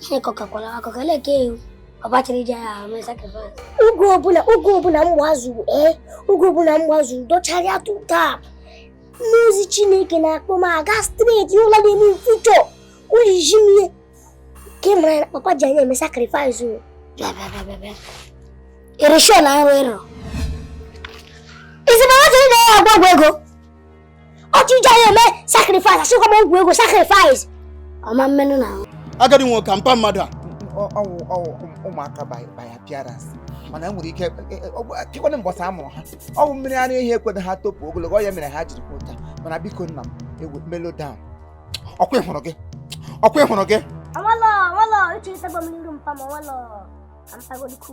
Chineke ọ kakwara akụkọ ele ka ewu mpa chọrọ iji anyị mee sacrifice oge ọbụla oge ọbụla m gbazuru ee oge ọbụla m gbazuru docharịa tutap mmụọ ozi chineke na-akpọ m aga straight ụlọ na-eme future ojiji m ihe ka ị mara na papa ji anyị eme sacrifice o bịa bịa bịa bịa bịa irishon arụ ịrụ izi na nwata ị na-agwọ ọgwụ ego otu eji anyị eme sacrifice asịkwa m ọgwụ ego sacrifice ọma mmenụ na ahụ agadi nwoke ka mpa mmadụ a ọwụ ọwụ ụmụaka by by appearance mana enwere ike pịkwana mbọsa amụrụ ha ọwụ mmiri ara ehi ekwero ha topu ogologo ọ ya mere ha jiri kwụ ụta mana biko nna m ewe mellow down ọkwa ịhụrụ gị ọkwa ịhụrụ gị ọwọlọ ọwọlọ uche nsagbo m n'iru mpa m ọwọlọ ka mpagodikwu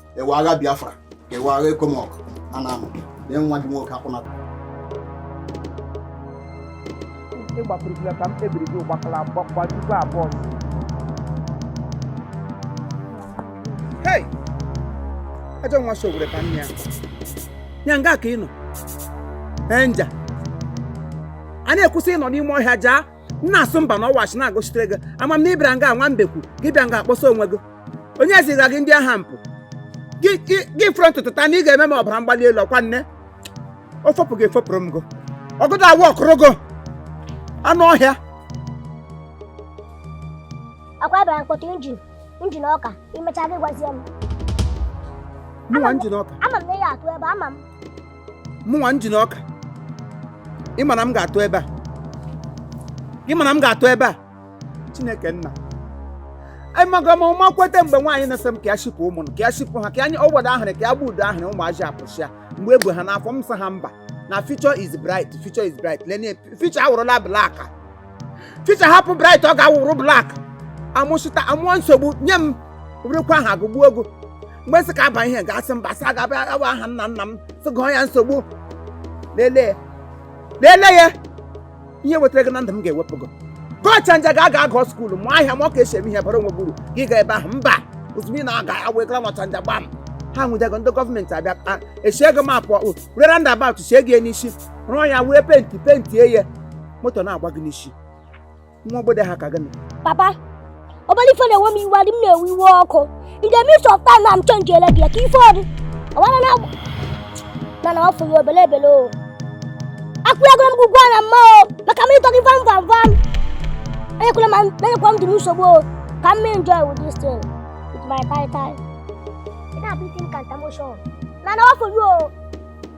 ewe agha biafra ewe agha ECOMOG a na-amụ lee nwa gị nwoke akwụnata ịgbakwurukila ka m kpebiri gị gbakala gbajikwa abụọ hei ajọ nwa si owere ka nne ya ya nga ka ị nọ enja a na-ekwusị ịnọ n'ime ọhịa jaa nna asụ mba na ọwachi na-agụchitere gị ama m na ịbịara nga nwa mbekwu gị bịa nga akpọsa onwe gị onye ziga gị ndị agha mpụ gị gị- gị fụrụ ntụtụ taa na ị ga-eme m ọbara mgbali elu ọkwa nne o fopụ gị efopụrụ m gị ọgụdụ awụ ọkụrụ gị anụ ọhịa akwa ịbara mkpọtụ injin injin ọka imecha gị gwazie m mụnwa injin ọka ama m na ị ya atụ ebe ama m mụnwa injin ọka ị ma na m ga-atụ ebe a ị ma na m ga-atụ ebe a chineke nna amaga m ọma kweta mgbe nwaanyị na-asị m ka ya shipụ ụmụ ka ya shipụ ha ka anyị ọgbada ahịrị ka ya gba udo ahịrị ụmụazị apụsịa mgbe e bu ha n'afọ m sị ha mba na future is bright future is bright lene future awụrụla black future hapụ bright ọ ga-awụrụ black amụsịta amụọ nsogbu nye m wụrụkwa aha agụgbuo ogo mgbe sị ka aba ihe gasị mba sị a ga-aba nwa aha nna nna m sị gụọ ya nsogbu lelee lelee ya ihe wetara gị na ndụ m ga-ewepụ gị gaa Ọchanja ga aga agụ skuulu mụọ ahịa ma ọ ka esi eme ihe bara onwe gị uru gị ga ebe ahụ mba ozugbo ị na-aga awegara n'Ọchanja gbam ha nwụdego ndị gọọmenti abịa a echie gị mapụ ọkpụ were roundabout chie gị ya n'isi rụọ ya wee penti pentie ya moto na-agba gị n'isi nwa obodo ha ka gịnị papa obele ife na-ewe m iwe adị m na-ewe iwe ọkụ in the midst of time I'm change ele gị ya ka ife ọ dị ọwara na agwụ mana ọ bụghị obele ebele o akwụghịgoro m ụgwọ na mma o maka m ịtọrọ ife mva mva m enyekwala m enyekwa m dị nsogbu o ka m enjoy with this thing with my tie tie ị na-abụ isi m ka ntamoshọn mana ọ bụghị o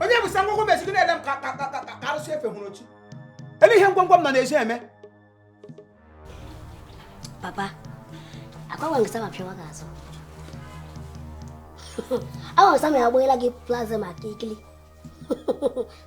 onye busa ngwongwo m ezi gị na-ele m ka ka- ka- ka- ka arụsị efe hụrụ ochi elee ihe ngwongwo m nọ n'ezi eme papa agbanwe nke sama pịawa gị azụ agbanwe sama ya agbaghịla gị plaza maka ikili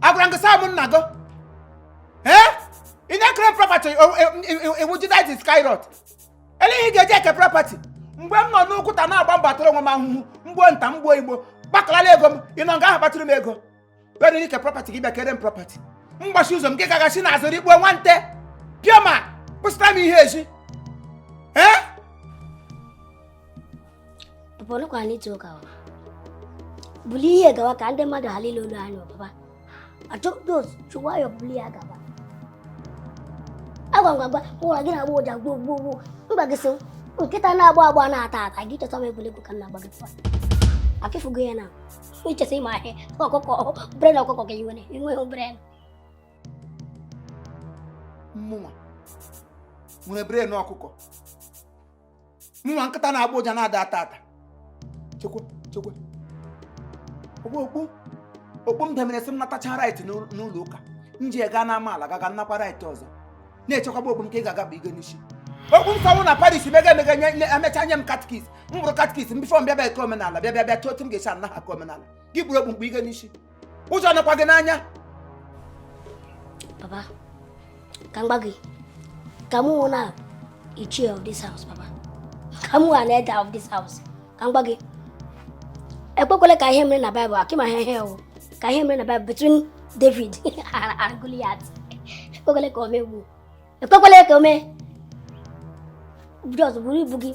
agwara gị saa m nna gị ee ị na-ekere property iwu jidit skyrot elee ihe ị ga-eji eke property mgbe m nọ n'ụkwụta na-agba mbọ atara onwe m ahụhụ mgbo nta mgbo igbo gbakalala ego m ị nọ nga ahụ kpatụrụ m ego were eke property gị bịa kere m property mgbachi ụzọ m gị gagasi na-azụrụ igbo nwante pioma busara m ihe ezi ee papa nọkwa n'ịtụ ụka ọ buli ihe gawa ka ndị mmadụ ghara ile olu anyị ọ papa achọpụta otu chụwa ya buli ya gaba agwa ngwa gwa ụra gị na-agbọ ụja gboo gboo gboo mba gị so nkịta na-agbọ agbọ na-ata ata gị chọta m egwuregwu ka m na-agba gị tụwa afịfụgo ya na i che sị ị ma ihe ọkụkọ brain ọkụkọ ka i nwere i nweghị brain mụnwa nwere brain ọkụkọ mụnwa nkịta na-agbọ ụja na-ata ata ata chekwa chekwa okpu okpu okpu m demere sị m natacha right n'ụlọ ụka m ji gaa n'amaala gaga nnakwa right ọzọ na-echekwaba okpu m ka ị ga-aga kpu gị n'isi okpu nsọnwụ na parish mega emega nye emecha nye m catechist m bụrụ catechist m before m bịa bịa eke omenala bịa bịa bịa chọọ otu m ga-esi ana gị aka omenala gị buru okpu m kpu gị n'isi ụjọ nọkwa gị n'anya papa ka m gwa gị ka mụnwa na chief of this house papa ka mụwa na head of this house ka m gwa gị ekwekwele ka ihe mere na bible akịma ha ihe ewu ka ihe mere na bible between david and goliath ekwekwele ka o mee ugbu a ekwekwele ka o mee just buru ibu gị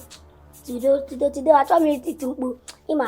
tido tido tido achọghị m iti mkpu ịma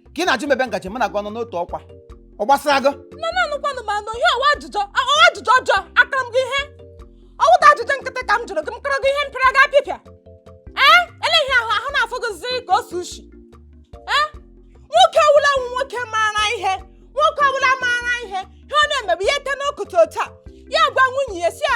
ka ị na-ajụ m ebe m gaje mụ na gị ọ nọ n'otu ọkwa ọ gbasara gị nna anụkwanụ m anụ ihe ọ wụ ajụjụ ọ wụ ajụjụ ọjọọ akara m gị ihe ọwụta ajụjụ nkịtị ka m jụrụ gị m kụrụ gị ihe m pịara gị apịpịa ee elee ihe ahụ ahụ na-afụ gị zi ka o si ushi ee nwoke ọwụla wụ nwoke maara ihe nwoke ọwụla maara ihe ihe ọ na-eme bụ ya teta n'ụtụtụ otu a ya gwa nwunye ya sị ya